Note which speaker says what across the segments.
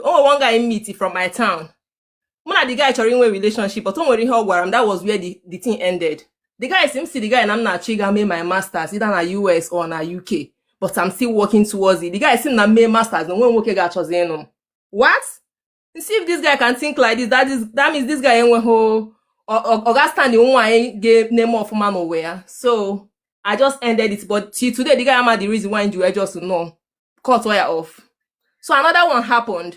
Speaker 1: o nwere one guy m meet from my town mụ na the guy chọrọ inwe relationship but o nwere ihe ọ gwara m that was where the, the thing ended the guy sị m sị the guy na m na-achọ ịga mee my masters either na US or na UK but I'm still working towards it the guy sị m na m mee masters na o nweghị nwoke ga-achọzi ịnụ m what nsị if this guy can think like this that is that means this guy enweghị ọ ga stand nwaanyị ga-eme ọfụma n'ụwa ya so I just ended it but till today the guy amaghị the reason why m ji were just nnọọ cut ya off so another one happened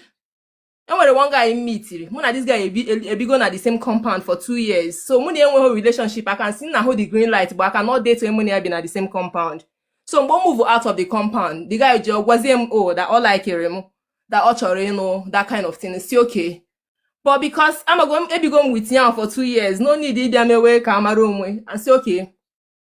Speaker 1: e nwere one guy m mitiri mụ na this guy ebigo na the same compound for two years so mụ na ya enweghị relationship I can say na m hụ the green light but I cannot date mụ na ya bi na the same compound so mgbe ọ move out of the compound the guy ji gwazie m o oh, that ọ likere m that ọ chọrọ ịnụ that kind of thing nsị okay but because amago m ebigo m with ya for two years no need ịbịa mewe ka a mara onwe nsị okay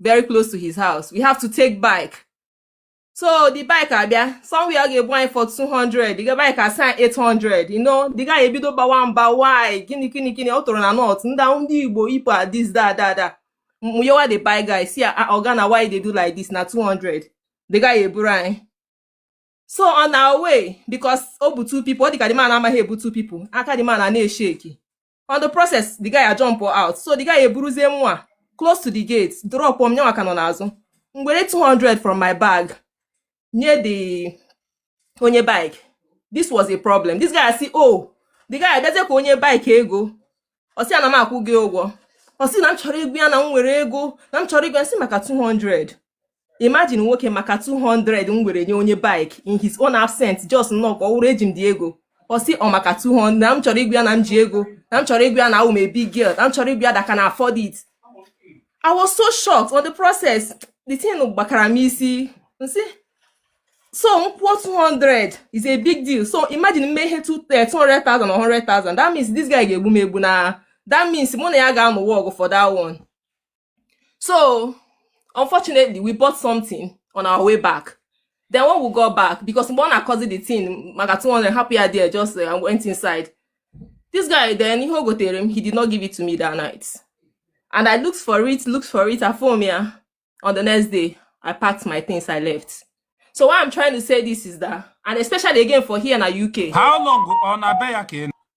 Speaker 1: very close to his house we have to take bike so the bike abịa somewhere ọ ga-ebu anyị for 200 the bike asị anyị 800 you know the guy ebido bawa mba why gịnị gịnị gịnị ọ tụrụ na north ndị ndị Igbo people are this da da da mụnyewa the bike guy sị ah, oga na why dey do like this na 200 the guy eburu anyị so on our way because o bu two people ọ dị ka the man amaghị ebu two people aka the man a na-esheki on the process the guy ajump out so the guy eburuzie mụwa close to the gate drop m nyanwa ka nọ n'azụ m were 200 from my bag nye the onye bike this was a problem this guy sị oh the guy abịazie ka o nye bike ego ọ sị ya na m akwụgo ya ụgwọ ọ sị na m chọrọ ịgwa ya na m nwere ego na m chọrọ ịgwa ya sị maka 200 imagine nwoke maka 200 m were nye onye bike in his own absence just nnọọ ka ọ wụrụ eji m the ego ọ sị ọ maka 200 na m chọrọ ịgwa ya na m ji ego na m chọrọ ịgwa ya na awụ m a big girl na m chọrọ ịgwa ya that I can afford it I was so shocked on the process the thing gbakara m isi nsị so m kwụọ 200 is a big deal so imagine m mee ihe 200,000 or 100,000 that means this guy ga-egbu m egbu na that means mụ na ya ga-anụwa ọgụ for that one so unfortunately we bought something on our way back then when we got back because mgbe ọ na-akọzi the thing maka 200 hapụ ya there just uh, went inside this guy then ihe o gotere m he did not give it to me that night and i looked for it looked for it afom ya on the next day i packed my things i left so what i'm trying to say this is that and especially again for here na uk How long ọ na-abịa
Speaker 2: ya ka ị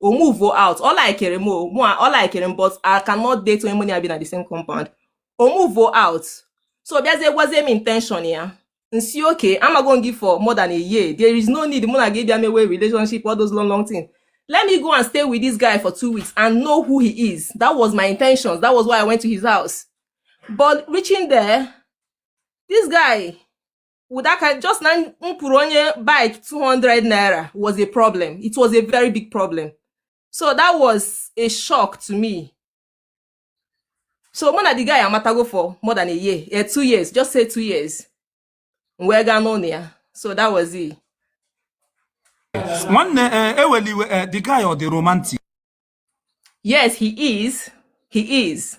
Speaker 1: o move out ọ likere m mụ ọ likere m but I cannot date onye mụ na ya bi na the same compound o move out so bịazie gwazie m intention ya nsi oke amago gị for more than a year there is no need mụ na gị bịa mewe relationship all those long long things let me go and stay with this guy for two weeks and know who he is that was my intentions that was why I went to his house but reaching there this guy ọ dịka just na m kwụrụ onye bike 200 naira was a problem it was a very big problem so that was a shock to me so mụ na the guy amatago for more than a year eh, two years just say two years m wee gaa n'ụlọ ya so that was
Speaker 2: it nwanne eweliwe eh, eh, eh, the guy ọ dị romantic
Speaker 1: yes he is he is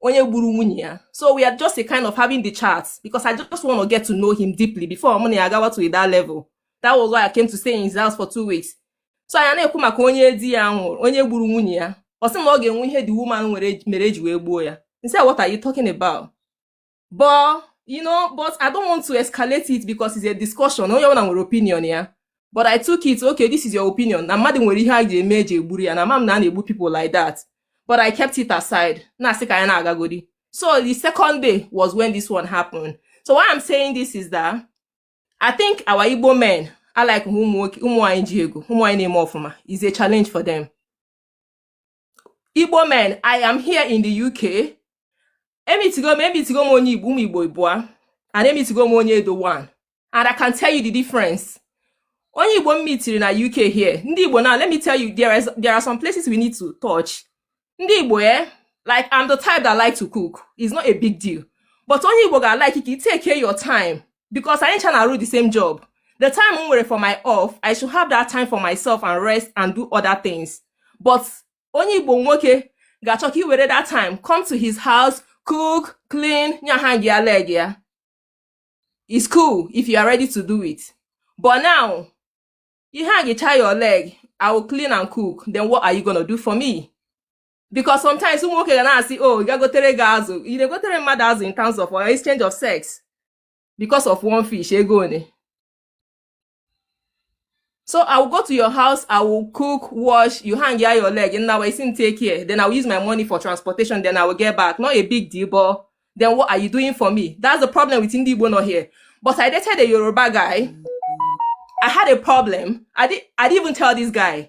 Speaker 1: onye gburu nwunye ya so we are just a kind of having the chat because I just want to get to know him deeply before mụ na ya gawa to that level that was why I came to stay in his house for two weeks so anyị na-ekwu maka onye di ya nwụrụ onye gburu nwunye ya ọ sị na ọ ga-enwe ihe the woman mere e ji wee gbuo ya nsị what are you talking about but you know but i don't want to escalate it because it's a discussion onye ọbụla nwere opinion ya but i took it okay this is your opinion na mmadụ nwere ihe a ji eme eji egburu ya na mam na a na-egbu people like that but i kept it aside na-asị ka anyị na-agagodi so the second day was when this one happened so why i'm saying this is that i think our igbo men are like ụmụ nwanyị ji ego ụmụ nwanyị na-eme ọfụma is a challenge for them igbo men i am here in the uk emitigo m emitigo m onye igbo ụmụ igbo ịbụa and emitigo m onye edo one and i can tell you the difference onye igbo m mitiri na uk here ndị igbo now let me tell you there, is, there are some places we need to touch ndị igbo eh like i'm the type that like to cook it's not a big deal but onye igbo ga-alike ka i take your time because anyị ncha na-arụ the same job the time m nwere for my off i should have that time for myself and rest and do other things but onye igbo nwoke ga-achọ ka i were that time come to his house cook clean nya ha gị ya leg ya it's cool if you are ready to do it but now ihe a gịcha your leg i will clean and cook then what are you gonna do for me because sometimes ụmụ nwoke ga na-asị o oh, ị gagotere gị azụ ị na-egotere mmadụ azụ in terms of uh, exchange of sex because of one fish ego one so i will go to your house i will cook wash you hang ya your leg nnawa isi m take care then i will use my money for transportation then i will get back not a big deal but then what are you doing for me that's the problem with ndị igbo nọ here but i dated a yoruba guy i had a problem i did i didn't even tell this guy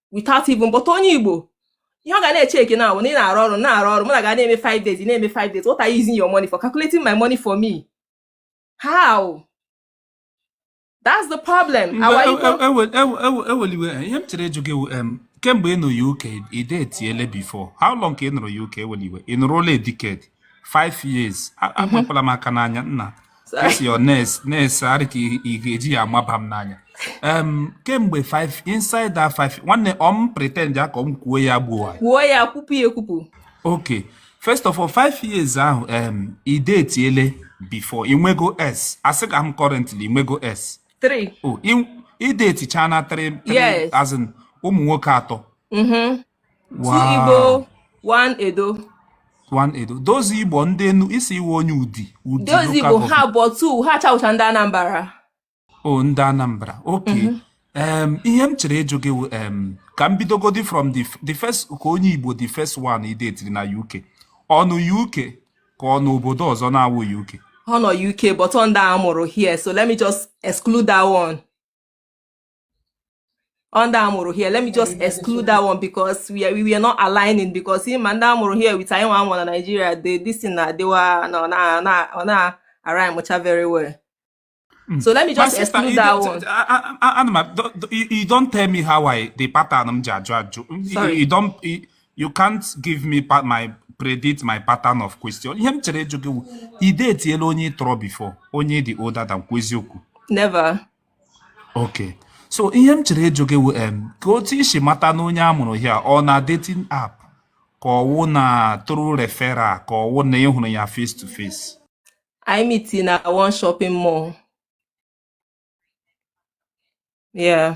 Speaker 1: without even but onye Igbo ihe ọ ga na-echeki na-awụ na ị na-arụ ọrụ na-arụ ọrụ mụ na gị na-eme 5 days na-eme 5 days what are you using your money for calculating my money for me how that's the problem ewele iwe e, e, e, ihe
Speaker 2: m chere ịjụ gị kemgbe ị nọ UK i detiele before how long ka ị nọrọ UK ewele iwe ị nọrọla a decade 5 years apịala m aka n'anya nna This your nails, nails a rị ka ị ga-eji amaba m n'anya. Um, kemgbe five inside that five nwanne ọ pretend ya ka m kwuo ya gbuo kwuo ya kwupụ ya ekwupụ
Speaker 1: okay
Speaker 2: first of all five years ahụ um, i detiele before i nwego ex asịghị m currently i nwego ex three oh i detichana three yes as in
Speaker 1: ụmụ
Speaker 2: nwoke atọ mm-hmm.
Speaker 1: Wow. Two Igbo, one Edo. One
Speaker 2: Edo. Those Igbo ndị enu isi iwe onye Udi. Udi Those Igbo ha
Speaker 1: bụ two ha ncha wụcha ndị Anambra. Oh ndị
Speaker 2: Anambra. Okay. Mm -hmm. um, ihe m chere ịjụ gị um, ka m bidogodi from the, the first ka onye Igbo the first one i detiri na UK. Ọ nọ UK ka ọ n'obodo ọzọ na-awụ UK. Ọ nọ UK but
Speaker 1: ọ ndị a mụrụ here so let me just exclude that one. ndị a mụrụ here let me just exclude that one because we are, we are not aligning because ị ma ndị a mụrụ here with anyị nwa a mụ na Nigeria the this thing na-adịwa na na na ọ na align mucha very well hmm. so let me just exclude that one anụma
Speaker 2: you don't tell me how I the pattern m ji ajụ ajụ
Speaker 1: you don't
Speaker 2: you can't give me my predict my pattern of question ihe m chere ịjụ gị wụ i detiela onye ị tọrọ before onye ị dị older than kwu eziokwu never Okay. So ihe m chere ịjụ gị wụ em ka otu i si mata na onye a mụrụ here ọ na dating app ka ọ wụ na through referral ka ọ wụ na ị hụrụ ya face to face.
Speaker 1: Imiti na one shopping mall. Yeah.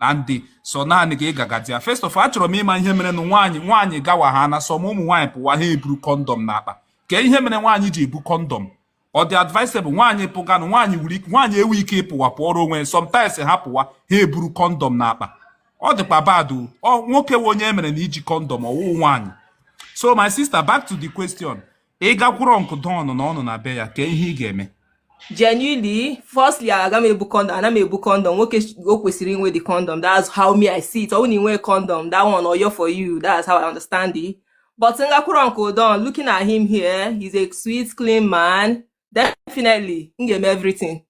Speaker 2: and sọ naanị gị ga-aga there first of all achọrọ m ịma ihe mere na nwaanyị nwaanyị gawa ha na some ụmụ nwaanyị pụwa ha eburu condom n'akpa kee ihe mere nwaanyị ji ebu condom ọ dị advisable nwaanyị pụganụ nwaanyị wuru ike nwaanyị enwe ike ịpụwa pụọrọ onwe sometimes ha pụwa ha eburu condom n'akpa ọ dịkwa bad o nwoke wụ onye e mere na iji condom ọ wụhụ nwaanyị so my sister back to the question ị gakwuru uncle don na ọ nọ na be ya kee ihe ị ga-eme
Speaker 1: genuinely firstly aga m ebu condom ana m ebu condom nwoke o kwesịrị inwe the condom that's how me i see it ọ bụrụ na i nwe condom that one oyo for you that's how i understand it but m gakwuru uncle don looking at him here he's a sweet clean man definitely m ga-eme everything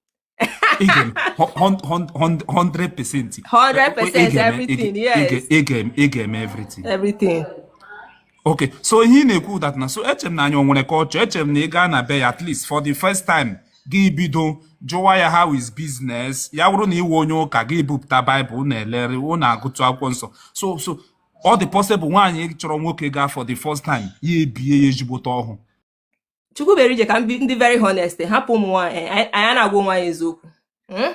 Speaker 2: Again, hundred hundred percent.
Speaker 1: Hundred percent everything. Yes. Ị
Speaker 2: ga-eme everything. Everything.
Speaker 1: Okay,
Speaker 2: so ihe ị na-ekwu wụ that na so eche m na anyị o nwere culture eche m na ị gaa na be ya at least for the first time gị bido jụwa ya how is business ya wụrụ na ị wụ onye ụka gị bupụta Bible na-elere unu agụtụ akwụkwọ nsọ so so ọ dị possible nwaanyị chọrọ nwoke gaa for the first time ya ebie ya ezigbote ọhụ chukwuberije
Speaker 1: ka m dị very honest hapụ ụmụ nwaanyị eh, anyị a na-agwa onwe anyị eziokwu hmm?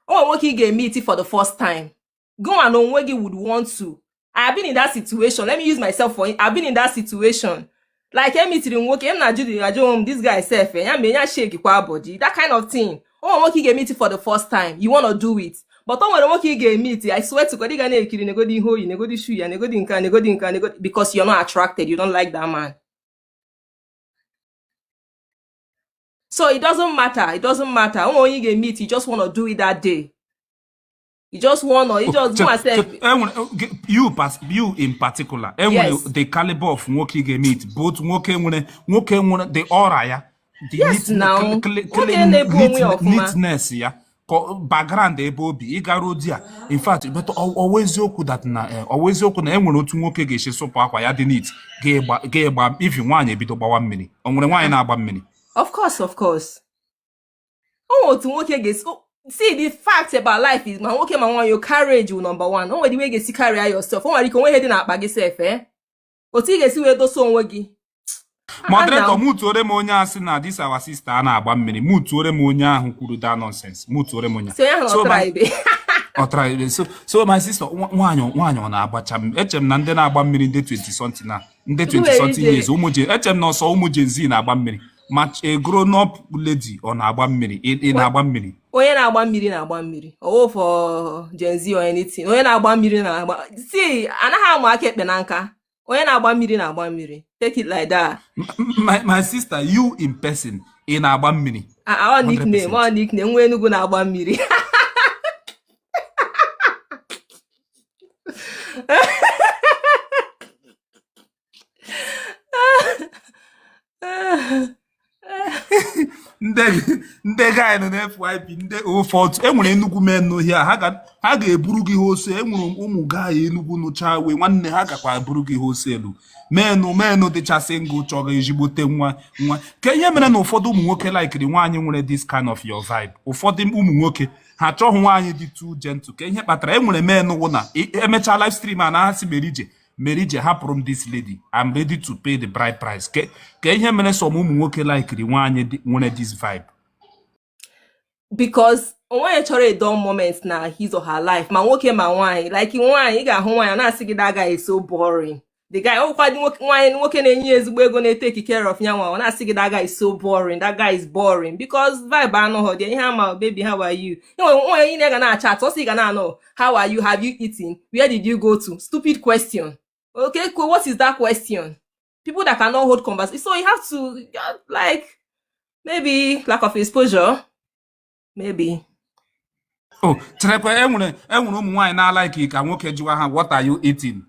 Speaker 1: o nwere nwoke ị ga-emeet for the first time gụnwa na onwe gị would want to I have been in that situation let me use myself for I have been in that situation like emeetiri m nwoke m na-ajụdị ajụ onwe m this guy sef eh, ya mee ya shake kwa body that kind of thing o nwere nwoke ị ga-emeet for the first time you wanna do it but o nwere nwoke ị ga-emeet I swear to God ị ga na-ekiri negodi ihe o yi negodi shoe ya negodi nka negodi nka negodi because you're not attracted you don't like that man so it doesn't matter it doesn't matter o nwe onye ị ga-emeet you just wanna do it that day you just wanna you just do yourself you pas you
Speaker 2: in particular e nwere the caliber
Speaker 1: of
Speaker 2: nwoke ị ga-emeet both nwoke nwere nwoke nwere the aura ya yes na
Speaker 1: nwoke na-ebu onwe
Speaker 2: ya ọfụma neatness ya background ebe o bi ị gara there in fact but ọ wụ eziokwu that na eh, ọ wụ eziokwu na e nwere otu nwoke ga-esi sụpụ akwa ya dị neat ga-egba ivi nwaanyị ebido gbawa mmiri o nwere nwaanyị na-agba mmiri of course
Speaker 1: of course o nwere otu nwoke ga-esi see the fact about life is ma nwoke ma nwaanyị your carriage will number one o nwere way ị ga-esi carry yourself o nwere ike o nwe ihe dị n'akpa gị sef eh otu ị ga-esi wee dosa onwe gị
Speaker 2: moderator mutuore m onye a sị na this our sister a na-agba mmiri mutuore m onye ahụ kwuru that nonsense mutuore m onye ọtraibe so so my sister nwaanyị nwaanyị ọ na-agbacha m eche m na ndị na-agba mmiri ndị 20 something na ndị 20 something years ụmụ je eche m na ọ sọ ụmụ Gen Z na-agba mmiri ma a grown up lady ọ na-agba mmiri ị na-agba mmiri onye na-agba
Speaker 1: mmiri na-agba mmiri ọ wụ for Gen Z or anything onye na-agba mmiri na-agba see anaghị amụ aka ekpe na nka onye na-agba mmiri na-agba mmiri take it like that my,
Speaker 2: my sister you in person ị na-agba mmiri ah, ah, ọ
Speaker 1: nickname ọ nickname nwa Enugu na-agba mmiri
Speaker 2: ndị guy nọ na FYP ndị ụfọdụ enwere Enugwu men nọ here ha ga-eburu gị wholesale enwere ụmụ guy Enugwu nọcha here nwanne ha gakwa eburu gị wholesale men men dịcha single chọrọ ezigbote nwa nwa ka ihe mere na ụfọdụ ụmụ nwoke laikiri nwaanyị nwere this kind of your vibe ụfọdụ ụmụ nwoke ha achọghị nwaanyị dị too gentle ka ihe kpatara enwere men wụ na emechaa live stream a na ha sị mere ije mere ije hapụrụ m this lady I'm ready to pay the bride price ke ka ihe mere some ụmụ nwoke laikiri nwaanyị dị- nwere this
Speaker 1: vibe because onweghị onye chọrọ a dull moment na his or her life ma nwoke ma nwaanyị like nwaanyị ị ga-ahụ nwaanyị ọ na-asị gị that guy is so boring the guy ọ wụkwa dị nwoke- nwaanyị nwoke na-enye ya ezigbo ego na-eteki care of ya nwa ọ na-asị gị that guy is so boring that guy is boring because vibe anọghọ dị ihe ama baby how are you enwere nwaanyị niile ga na-achat ọ sị ga na-anọ how are you have you eaten where did you go to stupid question okay cool what is that question people that cannot hold conversation so you have to uh, like maybe lack of exposure maybe
Speaker 2: o oh, cherekwa enwere enwere ụmụ nwaanyị na-alaiki ka nwoke jụwa ha what are you eating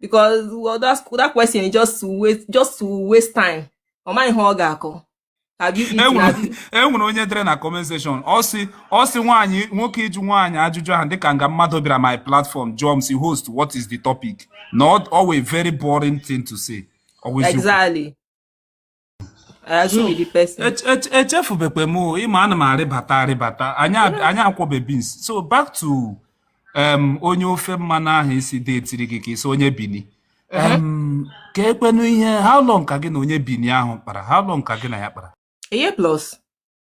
Speaker 1: because well, that's, that question is just to waste just to waste time ọ maghị ihe ọ ga-akọ enwere onye dere
Speaker 2: na comment section ọ sị ọ sị nwaanyị nwoke ịjụ nwaanyị ajụjụ ahụ dịka nga mmadụ bịara my platform jụọ m sị host what is the topic not always very boring thing to say always exactly echefubekwe m ịma ana m arịbata arịbata anyị akwọbe beans so back to onye ofe mmanụ ahụ ị sị detiri gị ka ị sị onye Bini ka ekwenu ihe how long ka gị na onye Bini ahụ kpara how long ka gị na ya kpara a year plus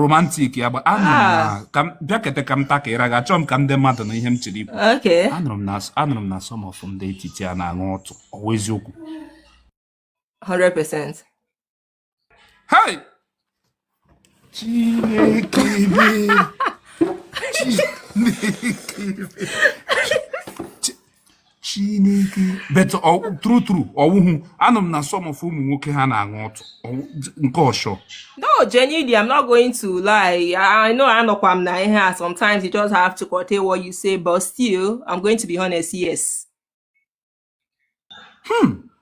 Speaker 2: romantic yeah. bịakete ka m takara gị achọ m ka ndị mmadụ nụ ihe m chọrọ ikwu
Speaker 1: anụrụ m na
Speaker 2: some of ndị etiti a na-aṅụ ọtụ ọ wụ eziokwu 100% hey chineke chineke chineke but true true ọwụhụ anụ m na some of ụmụ nwoke ha na-aṅụ ọtụ nke ọshọ no genuinely
Speaker 1: i'm not going to lie i know anọkwa m na ihe a sometimes you just have to curtail what you say but still i'm going to be honest yes hmm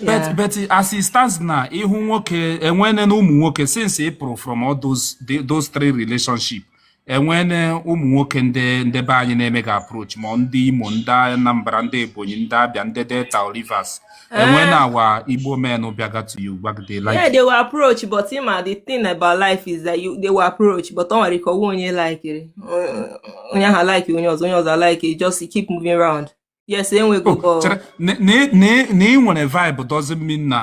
Speaker 1: but but as it
Speaker 2: stands now ịhụ nwoke enwene na ụmụ nwoke since ị pụrụ from all those those three relationship enwene ụmụ nwoke ndị ndị be anyị na-emega approach ma ndị Imo ndị Anambra ndị Ebonyi ndị Abia ndị Delta or Rivers enwene eh. our Igbo men bịaga to you gbagide like yeah they will approach
Speaker 1: but ị ma the thing about life is that you they will approach but ọ nwere ike ọwa onye like onye ahụ like onye ọzọ onye ọzọ like just keep moving around yes enwego ọ bụrụ
Speaker 2: na ị nwere vibe doesn't mean na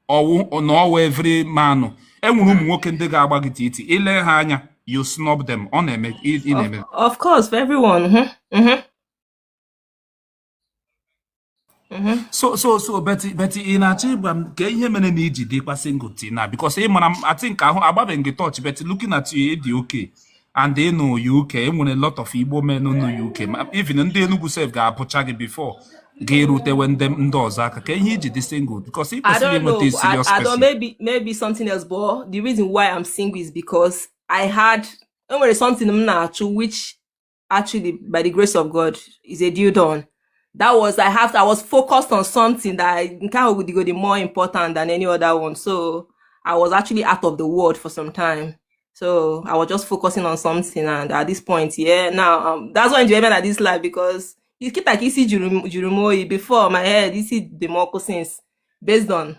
Speaker 2: ọ wụ na ọ wụ every man enwere ụmụ nwoke ndị ga-agba gị titi i lee ha anya you snub them ọ na-eme ị na-eme
Speaker 1: of course for everyone mm-hmm. Mm-hmm.
Speaker 2: Mm-hmm. so so so but but ị na-achọ ịgwa m ka ihe mere na i ji dịkwa single till now because ị mara m I think ahụ agbabeghị gị torch but looking at you dị okay and ị nọ UK enwere a lot of Igbo men nọ UK even ndị Enugu sef ga-abụcha gị before ga-erutewe ndị ndị ọzọ aka ka ihe i ji dị single because ị kwesịrị inweta serious person. I
Speaker 1: don't know maybe maybe something else but the reason why I'm single is because I had enwere something m na-achụ which actually by the grace of God is a deal done. that was I have I was focused on something that I nke ahụ dịgodi more important than any other one so I was actually out of the world for some time So I was just focusing on something, and at this point, yeah, now um, that's why I'm enjoying at this life because you keep like isi juru m oyi before my head isi dị m ọkụ since based on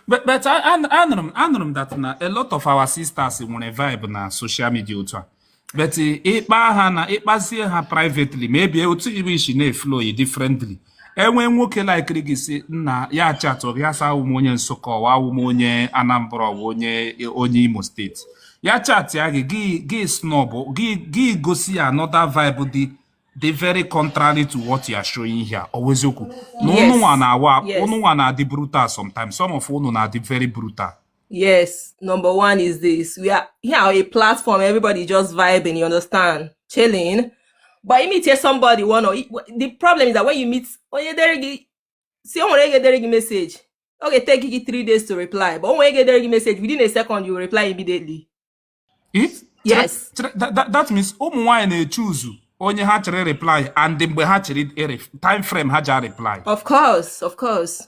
Speaker 1: but
Speaker 2: but anụrụ m anụrụ m that na a lot of our sisters nwere vibe na social media otu a but ịkpa ha na ịkpazie ha privately maybe otu ihe si na-eflow differently e nwee nwoke likere gị sị nna ya chatụ gị asa awụ m onye Nsụka ọwa awụ m onye Anambra ọwa onye onye Imo State ya chatịa gị gị gị snob gị gị gosi ya another vibe dị dị very contrary to what you are showing here ọ wụ eziokwu na ụnụwa na-awa ụnụwa na-adị brutal sometimes some of ụnụ na-adị very brutal
Speaker 1: Yes, number one is this. We are here yeah, a platform, everybody just vibing, you understand? Chilling. But you meet here somebody, one or the problem is that when you meet oh, onye dere gị sị o nwere onye ga-edere gị message ọ ga-eteki gị three days to reply but o nwere onye ga-edere gị message within a second you reply immediately If yes that, that,
Speaker 2: that means ụmụ nwaanyị na-echoose onye ha chọrọ reply and mgbe ha chọrọ time frame ha ji reply of course of
Speaker 1: course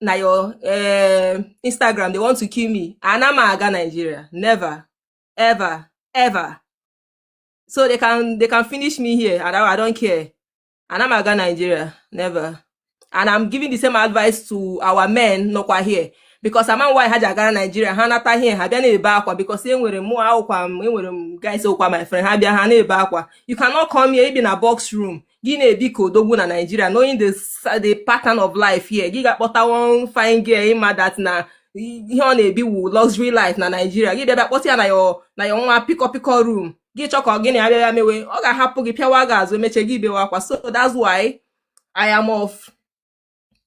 Speaker 1: na your eh, Instagram they want to kill me ana m aga Nigeria never ever ever so they can they can finish me here and I, I don't care ana m aga Nigeria never and I'm giving the same advice to our men nọkwa here because ama m why ha ji agara Nigeria ha nata here ha bịa na-ebe akwa because enwere m akwụkwa m enwere m guys okwa my friend ha bịa ha na-ebe akwa you cannot come here i bi na box room gị na-ebi ka odogwu na Naịjirịa knowing the, the pattern of life here gị gaa kpọta one fine girl ị ma that na ihe ọ na-ebi wu luxury life na Naịjirịa gị bịa kpọta ya na your na your nwa pịkọ pịkọ room gị chọ ka gị na ya bịa mewe ọ ga-ahapụ gị pịawa gị azụ emeche gị bewe akwa so that's why I am of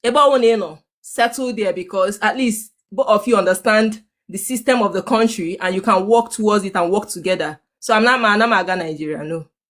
Speaker 1: ebe ọwụna ị nọ settle there because at least both of you understand the system of the country and you can work towards it and work together so I'm not ma ana m aga Nigeria no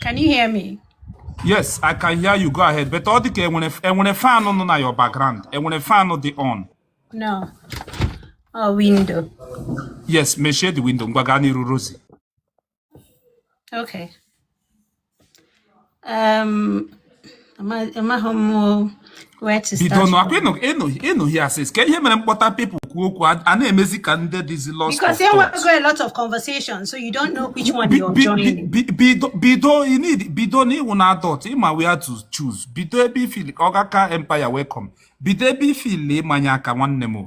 Speaker 3: Can you hear me? Yes, I
Speaker 2: can hear you. Go ahead. But all the enwere enwere fan on na your background. Enwere fan dị on. No.
Speaker 3: Oh, window. Yes,
Speaker 2: mechie the window. Ngwa gaa n'iru Rosie. Okay.
Speaker 3: bidonụ akwa ị nọ
Speaker 2: here since ka ihe mere m kpọta people kwuo okwu a na-emezi ka ndị dịzi
Speaker 3: lost of
Speaker 2: bido bido na ị wụ na adult ị ma where to choose bido ebe i feel ka Ọgaka Empire welcome bido ebe i feel ịmanye aka nwanne m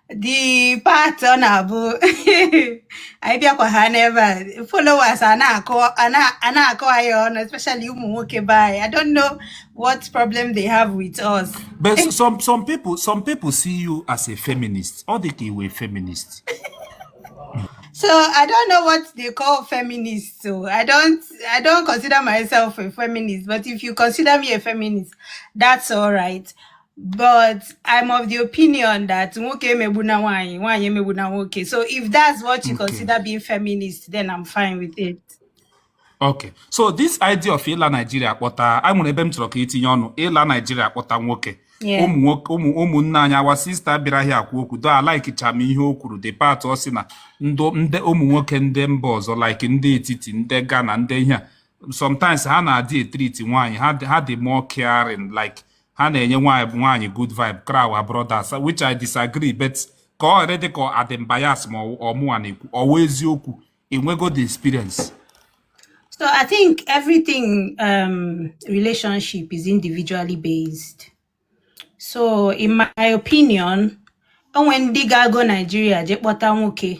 Speaker 3: the part ọ na-abụ anyị bịakwa ha n'ebe a followers a na-akọ a na- a na-akọ anyị ọnụ especially ụmụ nwoke be anyị I don't know what problem they have with us But s- some some
Speaker 2: people some people see you as a feminist. Ọ dị ka ị wụ
Speaker 3: feminist. so I don't know what they call feminist so I don't I don't consider myself a feminist but if you consider me a feminist that's all right but I'm of the opinion that nwoke emegbuna nwaanyị, nwaanyị emegbuna nwoke. So if that's what you okay. consider being feminist, then I'm fine with it. Okay.
Speaker 2: So this idea of ịla Nigeria kpọta, e nwere ebe m chọrọ ka i tinye ọnụ, ịla Nigeria kpọta nwoke. ụmụ nwoke ụmụ ụmụnne anyị our sister bịara here ekwu okwu though alikecha m ihe o kwuru the part ọ sị na ndị ụmụ nwoke ndị mba ọzọ like ndị etiti ndị Ghana ndị ihe a sometimes ha na-adị etriti nwaanyị ha dị more caring like ha na-enye nwaanyị good vibe karịa our brothers which I disagree but ka ọ ghara ịdị ka adị m bias ma ọ mụwa na-ekwu ọ wụ eziokwu enwego the experience So
Speaker 3: I think everything um, relationship is individually based. So in my opinion, when ndị ga-ago Nigeria je kpọta nwoke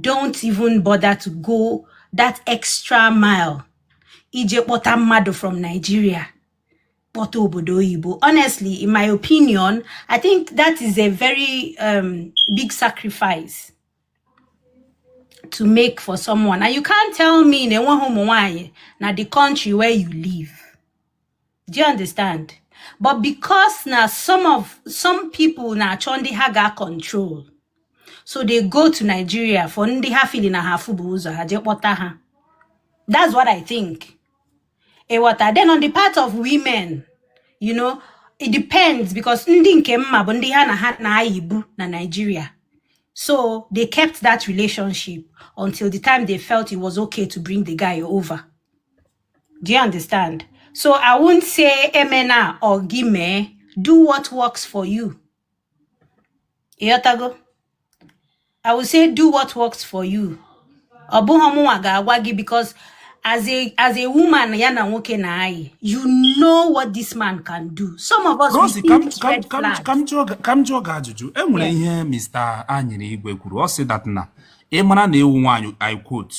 Speaker 3: don't even bother to go that extra mile ije kpọta mmadụ from Nigeria kpọta obodo oyibo honestly in my opinion I think that is a very um, big sacrifice to make for someone and you can't tell me na enweghị ụmụ nwanyị na the country where you live do you understand but because na some of some people na-achọ ndị ha ga control so they go to Nigeria for ndị ha feel na ha afụbu ụzọ ha jee kpọta ha that's what I think ị ghọta then on the part of women you know it depends because ndị nke m ma bụ ndị ha na ha na-ayibu na Nigeria so they kept that relationship until the time they felt it was okay to bring the guy over Do you understand? So I won't say emena or gị mee. Do what works for you. Ịghọtago? I will say do what works for you. Ọ bụghị ọmụnwa ga-agwa gị because as a as a woman ya na nwoke na anyị you know what this man can do. Some of us we Rosie, see ka m these ka m red ka
Speaker 2: m flags.
Speaker 3: ka m jụọ gị- ka m jụọ
Speaker 2: gị ajụjụ. E nwere Yes. ihe Mr. Anyere Igwe kwuru. Ọ sị that na ị mara na ị wụ nwaanyị I quote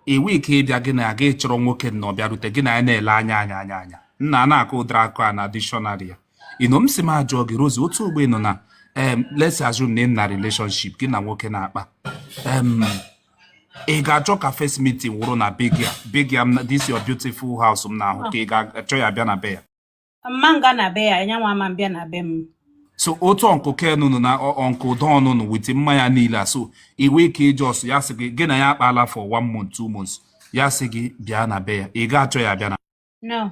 Speaker 2: i nwe ike ịbịa gị na-aga ịchọrọ nwoke na ọ bịarute gị na ya na-ele anya anya anya anya nna a na-akọ ụdịrị akụ a na dictionary ya ino m sị m ajụọ gị Rosie otu ogbe nọ na em let's assume na ị nọ na relationship gị na nwoke na-akpa em ị ga-achọ ka first meeting wụrụ na be gị a be gị a m na- this your beautiful house m na-ahụ ka ị ga-achọ ya bịa na be ya m ma aga
Speaker 3: na be ya nyanwa ama abịa na be m so otu
Speaker 2: uncle Ken nụ na uncle Don nụ with mmanya niile a so i nwe ike ị just ya sị gị gị na ya akpaala for one month two months ya sị gị bịa na be ya ị ga-achọ ya bịa na
Speaker 3: no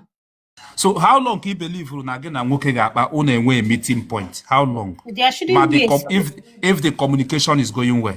Speaker 2: so how long ka ị belivuru na gị na nwoke ga-akpa unu enwee meeting point how long ma if
Speaker 3: if the
Speaker 2: communication is going well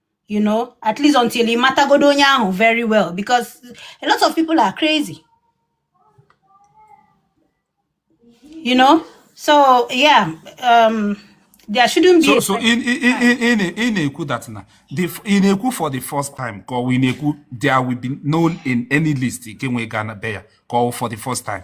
Speaker 3: you know at least until ị matagodo onye ahụ very well because a lot of people are crazy you know so yeah um there shouldn't be so
Speaker 2: so ị na ị na ị na ị na-ekwu that na the ị na-ekwu for the first time ka ọ wụ ị na-ekwu there will be no in any list nke nwe ga na be ya ka ọ wụ for the first time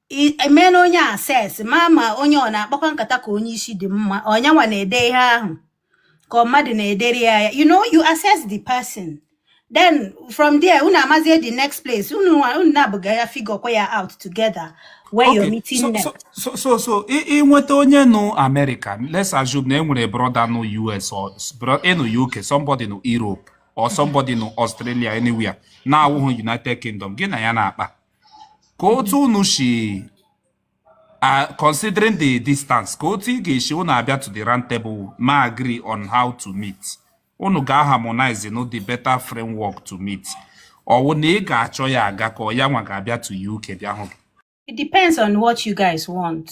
Speaker 3: emeela onye a assess ma ma onye ọ na-akpakwa nkata ka onye isi dị mma ọ nyanwa na-ede ihe ahụ ka mmadụ na-edere ya ya you know you assess the person then from there unu amazie the next place unu unu nabụọ ga ya figure kwa ya out together where okay. you're meeting so, next. so so
Speaker 2: so ị nweta onye nụ America let's assume na e nwere brother nụ US or ịnụ UK somebody nụ Europe or somebody nụ Australia anywhere na-awụghị United Kingdom gị na ya na-akpa ka otu unu si considering the distance ka otu ị ga-esi unu abịa to the round table ma agree on how to meet unu ga-harmonize no the better framework to meet ọ wụ na ị ga-achọ ya aga ka ọ ya nwa ga-abịa to UK bịa hụ gị it depends
Speaker 3: on what you guys want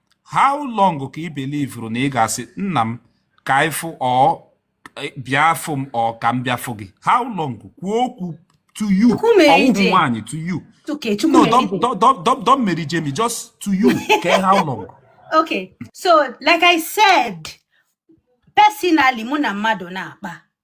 Speaker 2: how long ka ị belivuru na ị ga-asị nna m ka ị fụ ọ bịa fụ m ọ ka m bịa fụ gị how long kwuo okwu to you ọ wụhụ nwaanyị to you no don't marry Jamie just to you okay how long okay so
Speaker 3: like I said personally mụ na mmadụ na-akpa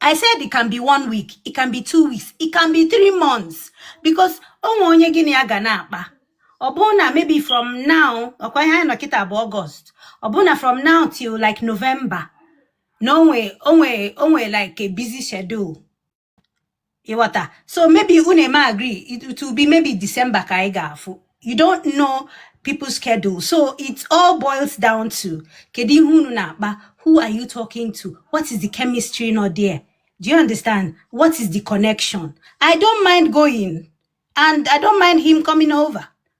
Speaker 3: I said it can be one week, it can be two weeks, it can be three months because o nwe onye gị na ya ga na-akpa ọ bụrụ na maybe from now ọ kwa ihe anyị nọ kịta bụ August ọ bụrụ na from now till like November na o nwe o nwe o nwere like a busy schedule ịghọta so maybe unu eme agree it it will be maybe December ka anyị ga-afụ you don't know people's schedule so it all boils down to kedu ihe unu na-akpa who are you talking to what is the chemistry not there do you understand what is the connection i don't mind going and i don't mind him coming over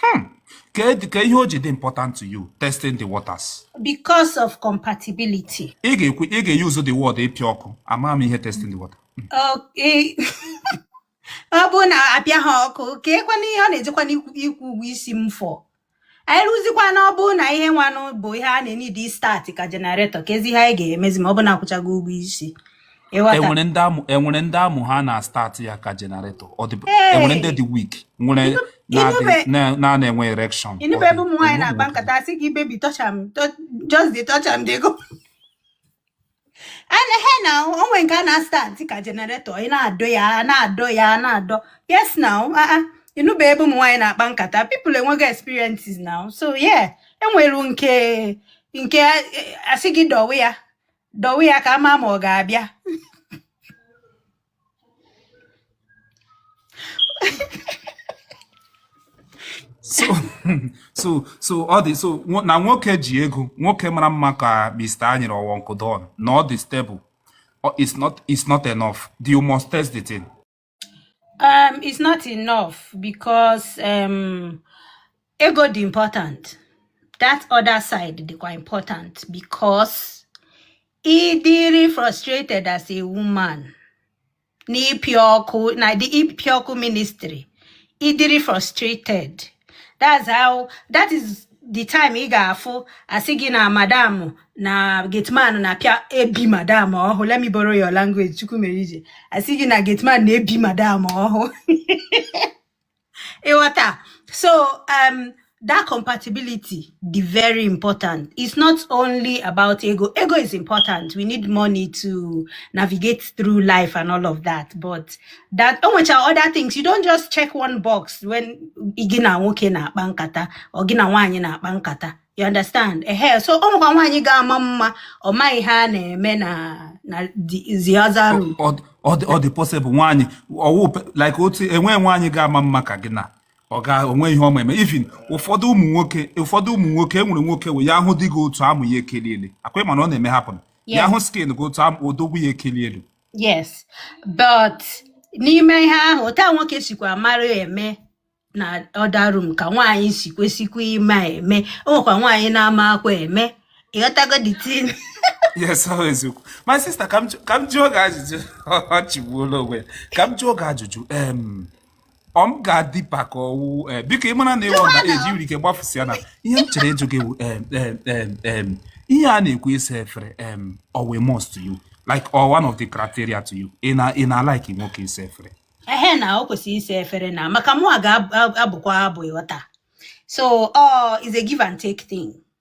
Speaker 3: Hmm.
Speaker 2: ka ihe o ji dị important to you testing the waters because
Speaker 3: of compatibility ị ga-ekwu ị ga-eyuzu
Speaker 2: the word ịpịa ọkụ ama m ihe testing the water hmm.
Speaker 3: okay ọ bụrụ na apịa ha ọkụ ka ekwana ihe ọ na-ejekwa n'ịkwụ ụgwọ isi m fọ anyị rụzikwa na ọ bụrụ na ihe nwanụ bụ ihe a na-enye dị start ka generator kezi ihe a ga-emezi ma ọ bụ na akwụchago ụgwọ isi enwere
Speaker 2: ndị amụ enwere ndị amụ ha na-start ya ka generator ọ dị enwere ndị dị weak nwere na-ana enwe erection ị nụbe ebe ụmụ nwaanyị na-akpa
Speaker 3: nkata asị gị baby touch am just dey touch am dey go he na o nwee nke a na-start ka generator ị na-adọ ya na-adọ ya na-adọ yes now ah, ah. ị nụbe ebe ụmụ nwaanyị na-akpa nkata people enwego experiences now so yeah enwere nke nke asị gị dọwe ya dọwe ya ka a ma ma ọ
Speaker 2: ga-abịa so so so ọ dị so na nwoke ji ego nwoke mara mma ka Mr. Anyere or Uncle Don na ọ dị stable it's not it's not enough you must test the thing um,
Speaker 3: it's not enough because um, ego dị important that other side dịkwa important because ị dịrị frustrated as a woman n'ịpịa ọkụ na the ịpịa ọkụ ministry ị dịrị frustrated that's how that is the time ị ga-afụ asị gị na madam na gateman na-apịa ebi madam ọhụ let me borrow your language Chukwumerije asị gị na gateman na-ebi madam ọhụ ị ghọta so um, that compatibility dị very important it's not only about ego ego is important we need money to navigate through life and all of that but that o nwecha other things you don't just check one box when gị na nwoke na-akpa nkata or gị na nwaanyị na-akpa nkata you understand ehe so ọ nwekwa nwaanyị ga-ama mma ọ maghị ihe a na-eme na na the the other room ọ dị- ọ dị- ọ dị
Speaker 2: possible nwaanyị ọwụ pe- like otu enwe nwaanyị ga-ama mma ka gị na oga o nwe ihe ọ ma eme even ụfọdụ ụmụ nwoke ụfọdụ ụmụ nwoke e nwere nwoke wụ ya hụdị gị otu a amụ ya ekelie elu akwa ị ma na ọ na-eme happen ya Yes. hụ skin gị otu a amụ odogwu ya ekelie elu
Speaker 3: yes but n'ime ihe ahụ otu a nwoke sikwa mara eme na other room ka nwaanyị si kwesikwa ịma eme o nwekwa nwaanyị na-amaakwa eme ị ghọtago the tin
Speaker 2: yes ọ eziokwu my sister ka m jụ- ka m jụọ gị ajụjụ ọ chịgbuola onwe ya ka m jụọ gị ajụjụ em ọ m ga-adị pa ka ọwụ eh, biko ị mara na ịwụ na eji nwere ike gbafusịa na ihe m chọrọ ịjụ gị wụ, em, em, em, em, ihe a na-ekwu ịsa efere em, ọ wụ a must to you like or one of the criteria to you ị na ị na like nwoke ịsa efere ehe na o
Speaker 3: kwesịrị ịsa efere na maka mụwa ga-abụkwa abụ ịghọta so it's a give and take thing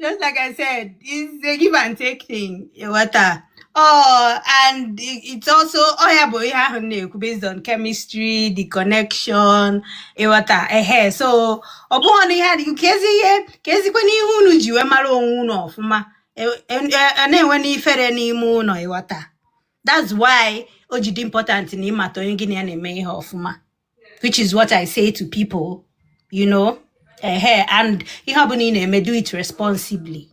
Speaker 3: just like I said, it's a give and take thing. Ịghọta. Oh, and it's also ọ ya bụ ihe ahụ m na-ekwu, based on chemistry, the connection, ịghọta. Eh, so ọ bụghị na ihe adịghị ka ezi ihe ka ezikwa n'ihe unu ji wee mara onwe unu ọfụma e, e, e, na enwena ifere n'ime ụnọ ịghọta that's why o ji dị important na ịmata onye gị na ya na-eme ihe ọfụma which is what I say to people, you know. Ehe, and ihe ọbụla ị na-eme do it responsibly.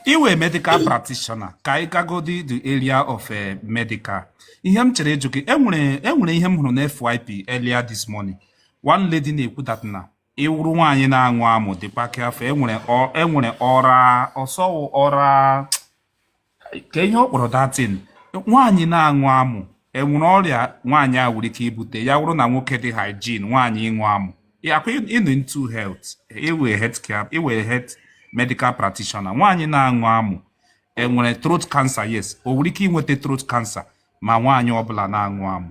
Speaker 2: Ị wụ a medical practitioner ka anyị gagodi the area of eh, medical. Ihe m chọrọ ịjụ gị, enwere enwere ihe m hụrụ na FYP earlier this morning. One lady na-ekwu that na ị wụrụ nwaanyị na-aṅụ amụ dịkwa ka afọ enwere enwere oral ọ sị ọ wụ oral ka ihe ọ kpọrọ that thing nwaanyị na-aṅụ amụ enwere ọrịa nwaanyị a nwere ike ibute ya wụrụ na nwoke dị hygiene nwaanyị ịṅụ amụ ọ kwa ị nọ into health ị wụ a health care ị wụ a health medical practitioner nwaanyị na-aṅụ amụ enwere throat cancer yes o nwere ike inweta throat cancer ma nwaanyị ọbụla na-aṅụ amụ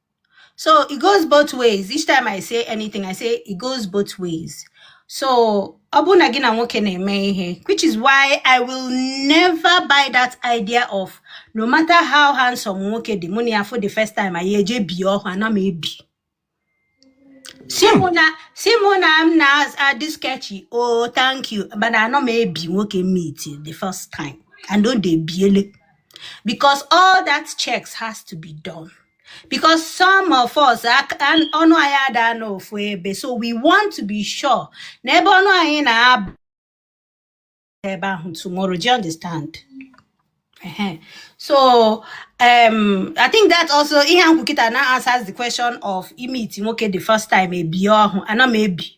Speaker 3: So it goes both ways. Each time I say anything, I say it goes both ways. So ọ bụ na gị na nwoke na-eme ihe which is why I will never buy that idea of no matter how handsome nwoke dị mụ na ya for the first time anyị eje bie ọhụ ana m ebi sị mụ na sị mụ na m na-adị sketchy oh thank you but anọ m ebi nwoke meet the first time and o de biele because all that checks has to be done because some of us ak- an- ọnụ anyị ada anọ ofu ebe so we want to be sure na ebe ọnụ anyị na-aba ebe ahụ tomorrow do you understand Ehen. so um, i think that also ihe ahụ m kwu kịta now answers the question of ịmeet nwoke the first time ebie ọhụ ana m ebi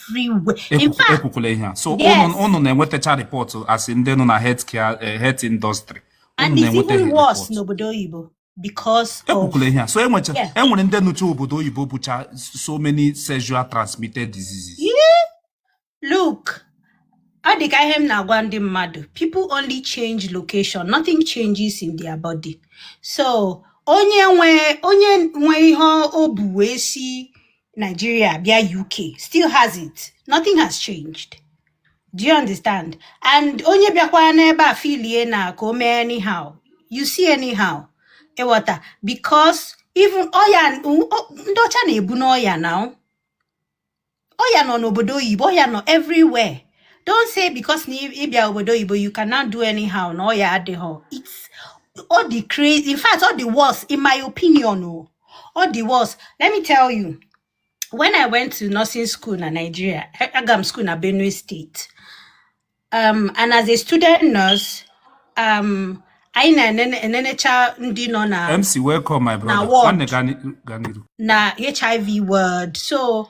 Speaker 3: everywhere. In fact, ekwukwula ihe a so
Speaker 2: ụnụ na-enwetacha report as in ndị nọ na healthcare eh, health industry and it's
Speaker 3: even worse n'obodo oyibo because ekwukwula ihe a so enwecha
Speaker 2: enwere ndị nọcha obodo oyibo bucha so many sexual transmitted
Speaker 3: diseases look ọ dị ka ihe m na-agwa ndị mmadụ people only change location nothing changes in their body so onye nwe onye nwe ihe o bu wee si Nigeria bịa UK still has it nothing has changed do you understand and onye bịakwa n'ebe a filie na ka o mee anyhow you see anyhow ịghọta because even ọya ndị ọcha na-ebu n'ọya na ọya nọ n'obodo oyibo ọya nọ everywhere don't say because na ịbịa obodo oyibo you can now do anyhow na ọya adịhọ it's ọ dị crazy in fact ọ dị worse in my opinion o oh. ọ dị worse let me tell you when i went to nursing school na nigeria a- aga m school na benue state um, and as a student nurse um, anyị na-enenecha
Speaker 2: ndị nọ na mc welcome my na brother nwanne ward gaa ni- gaa n'iru
Speaker 3: na hiv ward so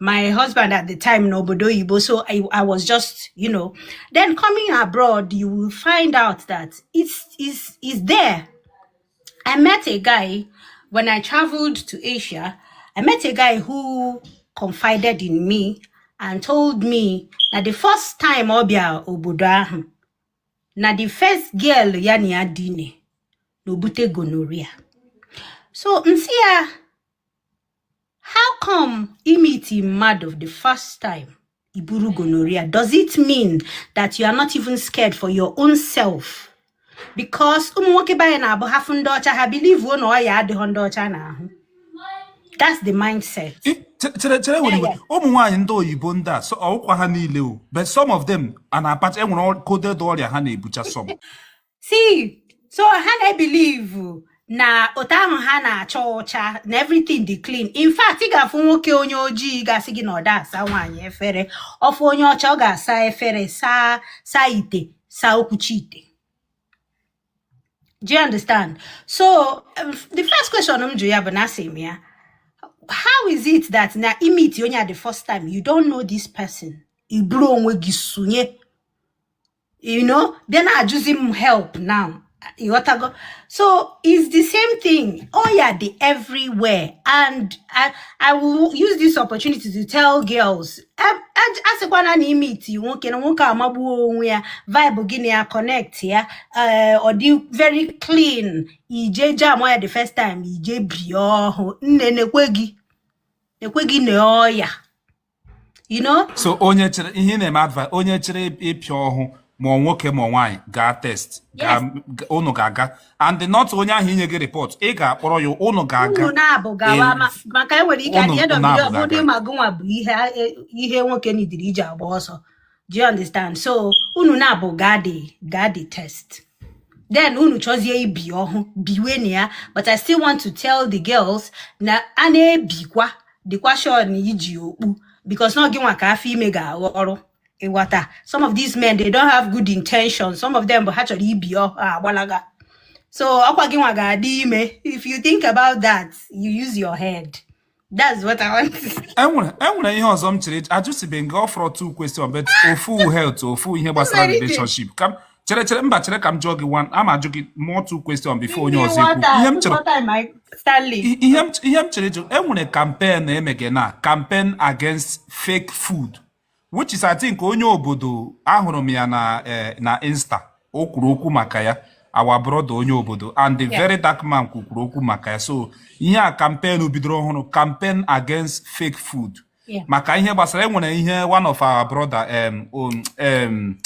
Speaker 3: my husband at the time no obodo oyibo so I, I was just you know then coming abroad you will find out that it's is is there i met a guy when i traveled to asia i met a guy who confided in me and told me that the first time ọ bịa obodo ahụ na the first girl ya na ya dine na obute gonorrhea so m sị ya how come i meet mmadụ the first time i buru gonorrhea does it mean that you are not even scared for your own self because ụmụ nwoke be anyị na-abụ ha fụ ndị ọcha ha bilivuo na ọya adịhọ ndị ọcha n'ahụ that's the mindset chere chere were
Speaker 2: iwe ụmụ nwaanyị ndị oyibo ndị a ọkwa ha niile o but some of them a na-apacha enwere coded ọrịa ha na-ebucha some
Speaker 3: see so ha na-ebilivu na otu ahụ ha na-acha ọcha na everything dị clean in fact ị ga-afụ nwoke onye ojii ga-asị gị na ọ da asa nwaanyị efere ọ fụ onye ọcha ọ ga-asa efere saa saa ite saa okwuchi ite do you understand so um, the first question m jụ ya bụ na asị m ya how is it that na i meet onye a the first time you don't know this person i buru onwe gị sunye you know then na-ajụzi m help now ịghọtago so it's the same thing ọya dị everywhere and I, I will use this opportunity to tell girls asịkwana na i meet nwoke na nwoke amagbuo onwe ya vibe gị na ya connect ya eh, ọ dị very clean i je jam ya the first time i je bie ọhụ nne nekwe gị na ọya
Speaker 2: you know so onye chọrọ ihe m na-eme advice onye chọrọ ịpịa ọhụ ma ọ nwoke ma nwaanyị gaa test unu ga-aga and not onye ahụ inye gị report ị ga-akpọrọ ya unu ga-aga unu naabọ
Speaker 3: gawa maka e nwere ike at the end of the day ọ bụdị ma gụnwa bụ ihe nwoke nidiri iji agba ọsọ do you understand so unu naabọ gadi gadi test then unu chọzie ibi ọhụ biwe na ya but i still want to tell the girls na a na-ebikwa dịkwa sure na i ji okpu because na gị nwa ka afọ ime ga-aghọ ọrụ ịghọta some of these men they don't have good intentions some of them bụ ha chọrọ ibi ọhụ gbalaga so ọkwa gị nwa ga-adị ime if you think about that you use your head That's what I want to say. enwere enwere ihe ọzọ m chọrọ ịjụ
Speaker 2: ajụsibeghị gị ọ fọrọ two question but ofu health ofu ihe gbasara Enwere ike. relationship ka m chere chere mba chere ka m jụọ gị one a ma ajụ gị more two question before onye ọzọ ekwu ihe m chere What time I Stanley? i- ihe m ihe m chọrọ ịjụ enwere campaign na-emege na campaign against fake food which is I think onye obodo ahụrụ m ya na eh, na insta o kwuru okwu maka ya our brother onye obodo and the very dark man kwukwuru okwu maka ya so ihe a campaign bidoro ọhụrụ campaign against fake food Yeah. maka ihe gbasara enwere ihe one of our brother um, um, um,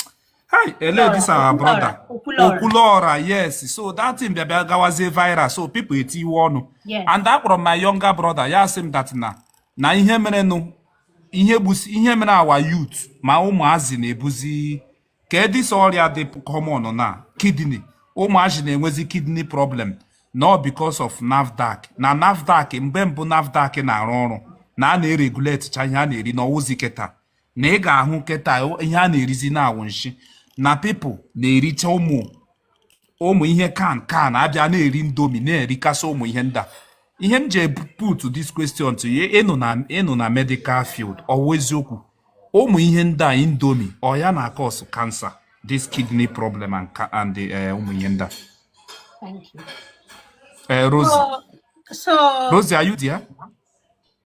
Speaker 2: hi ele this our Okwuluora, brother Okwuluora. Okwuluora yes so that thing bịa bịa gawazie viral so people etiwe ọnụ Yes. and akpọrọ m my younger brother ya sị m that na na ihe merenụ ihe gbusi ihe mere our youth ma ụmụazị na-ebuzi ka this ọrịa dị common na kidney ụmụazị na-enwezi kidney problem na ọ because of nafdac na nafdac mgbe mbụ nafdac na-arụ ọrụ na a na-eregulatecha ihe a na-eri na ọ wụzi keta na ị ga-ahụ keta ihe a na-erizi na-awụ nshi na people na-ericha ụmụ ụmụ ihe can can a bịa na-eri indomie na-erikasị ụmụ ihe ndị a ihe m ji put this question to you ị nọ na ị nọ na medical field ọ wụ eziokwu ụmụ ihe ndị a indomie ọ ya na-acause cancer this kidney problem and, and the, eh, ụmụ ihe ndị a Thank
Speaker 3: you. Eh, Rosie, so,
Speaker 2: so,
Speaker 3: Rosie, are you there?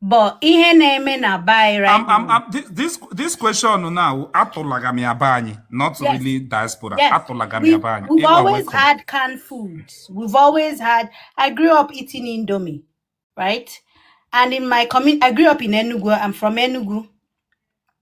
Speaker 3: But ihe na-eme na be anyị right I'm, I'm, now. I'm, thi- this, this
Speaker 2: question now, atụlaga m ya be anyị, not Yes. really diaspora, Yes. atụlaga m ya We've, be anyị. we've You are always welcome. had
Speaker 3: canned foods. We've always had, I grew up eating Indomie, right? And in my community, I grew up in Enugu. I'm from Enugu.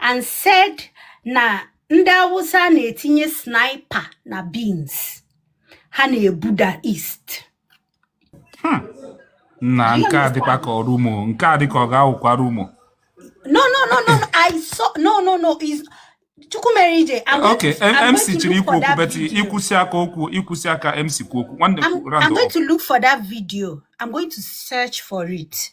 Speaker 3: and said na ndị Awụsa na-etinye sniper na beans ha na-ebuda east hmm.
Speaker 2: na nke a dịkwa ka ọ rumour nke a dịka ọ ga-awụkwa
Speaker 3: rumour no no no no i saw no no no is Chukwumerije
Speaker 2: okay mc chọrọ ikwu okwu but i kwusịa ka o kwuo i kwusịa ka mc kwuo okwu nwanne i'm going to look
Speaker 3: for that video i'm going to search for it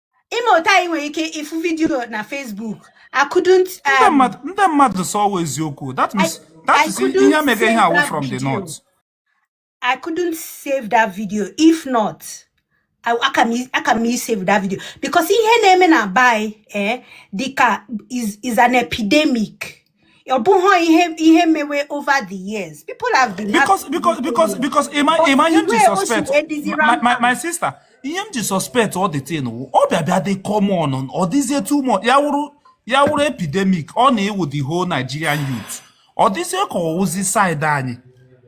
Speaker 3: ime otu anyị nwere ike ịfụ video na Facebook I couldn't um, ndị mmadụ
Speaker 2: sị ọ wụ eziokwu that means that is ihe mega ihe a wụ from the north I
Speaker 3: couldn't save that video if not aka m isave that video because ihe na-eme na be anyị eh, dịka is an epidemic ọ bụghị ihe ihe mewe over the years people have been because
Speaker 2: because because because ịma ịma ihe m ji suspect my my my sister ihe m ji suspect all this thing wụ ọ bịa bịa dị common ọ dịzie too much ya wụrụ ya wụrụ epidemic ọ na-awụ the whole Nigerian youth ọ dịzie ka ọ wụzi side anyị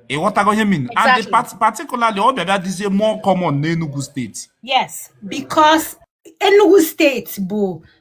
Speaker 2: ị ghọtago ihe m mean and particularly
Speaker 3: ọ
Speaker 2: bịa bịa dịzie more common n'Enugu steeti yes
Speaker 3: because Enugu steeti bụ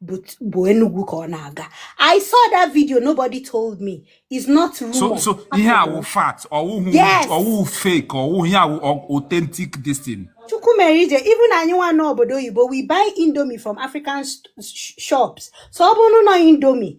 Speaker 3: but Enugu ka ọ na-aga I saw that video nobody told me it's not rumor. so so ihe a
Speaker 2: wụ fact ọ wụhụ ọ wụhụ fake ọ wụhụ ihe a wụ authentic this thing. Chukwumerije
Speaker 3: even anyị nwa n'obodo oyibo we buy indomie from African shops so ọ bụrụ na indomie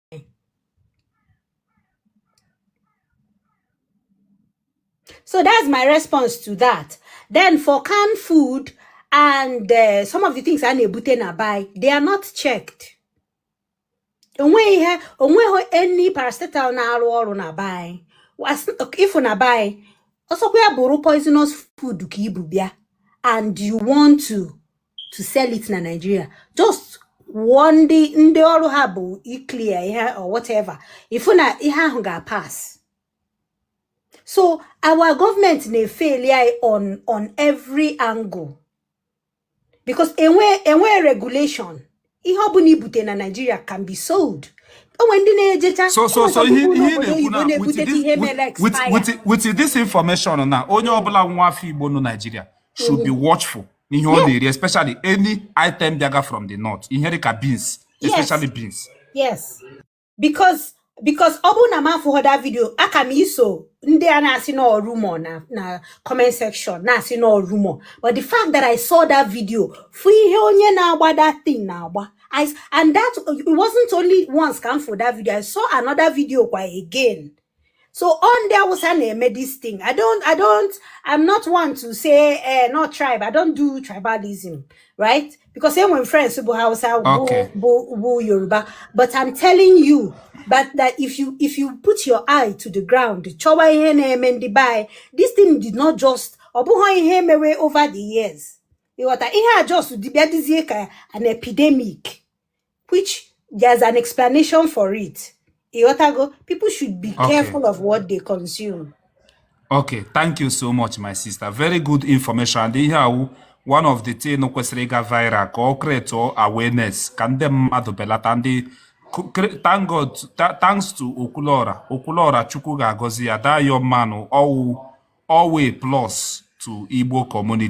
Speaker 3: So that's my response to that. Then for canned food and uh, some of the things I nebute na buy, they are not checked. Onwe ihe, onwe any paracetamol na arụ ọrụ na buy. If na buy, also we are poisonous food ka ibu bịa and you want to to sell it na Nigeria just kwụọ ndị ndị ọrụ ha bụ iclear ihe or whatever ị fụ na ihe ahụ ga-apass so our government na-efail anyị on on every angle because enwe enwe regulation ihe ọ bụla i bute na Naịjirịa can be sold o nwe ndị na-ejecha so so so ihe ihe na-ekwu
Speaker 2: na with this information na onye ọbụla nwa afọ Igbo nọ Naịjirịa should be watchful ihe ọ na-eri especially any item bịaga from the north ihe dịka beans especially beans yes
Speaker 3: because because ọ bụrụ na m afụghọ that video aka m iso ndị a na-asị na ọ rumor na na comment section na-asị na ọ rumor but the fact that I saw that video fụ ihe onye na-agba that thing na-agba I, s- and that it wasn't only once ka m fụ that video I saw another video kwa again so ọ ndị awụsa na-eme this thing i don't i don't i'm not one to say eh, not tribe i don't do tribalism right because enwe m friends bụ hausa Okay. bụ bụ yoruba but i'm telling you but that if you if you put your eye to the ground chọwa ihe na-eme ndị be anyị this thing did not just ọ bụghị ihe emewe over the years ị ghọta ihe a just bịa dịzie ka an epidemic which there's an explanation for it ị ghọtago people should be Okay. careful of what they consume Okay,
Speaker 2: thank you so much, my sister. Very good information. And ihe a wụ one of the thing kwesịrị ịga viral ka ọ create awareness ka ndị mmadụ belata ndị ku- cre- thank God tha- thanks to Okwuluora Okwuluora Chukwu ga-agọzi ya that young man ọ wụ ọ wụ a plus to Igbo community.